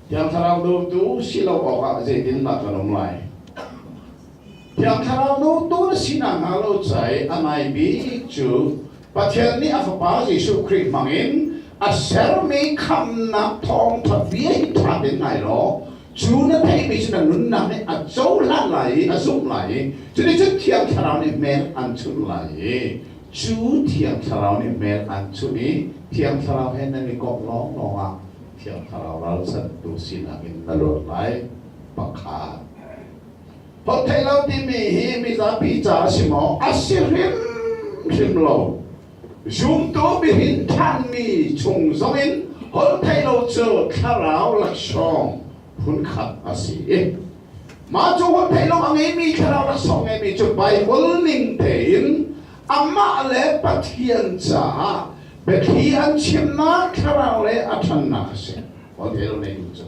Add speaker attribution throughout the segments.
Speaker 1: Thiang Thlarau dutu si lo awkah zeitindah kan um lai? Thiang Thlarau dutu na si nakhnga lo cai a nai bik cu Pathian nih a Fapa Jesuh Khrih hmangin a sermi khamnak thawngṭha bia hi ṭha tein ngai law Cu na theihmi cu na nunnak nih a cohlan lai i a zumh lai i cuticun Thiang Thlarau nih hmel an chunh lai i cu Thiang Thlarau nih hmel an chunh i Thiang Thlarau he nan i komh lawnglawng ah Thiang Thlarau ralchantu sinak in na luat lai. Pakhat. Holh theih lo timi hi mizapi ca a si maw? A si hrimhrim lo. Zumtu bihin ṭhanmi chung zongin holhtheihlo cu thlarau laksawng phunkhat a si i mah cu holhtheihlo a ngeimi thlarau laksawng ngeimi cu Baibal ning tein amah le Pathian caah biathli an chimnak thlarau le a ṭhannak a si holhtheihlo ngeimi cu.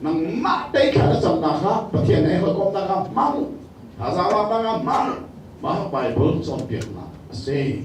Speaker 1: nangmah tei kha na camnak kha Pathian ei hawikomhnak ah hmang thazaanglamnak ah hmang mah Baibal cawnpiaknak a si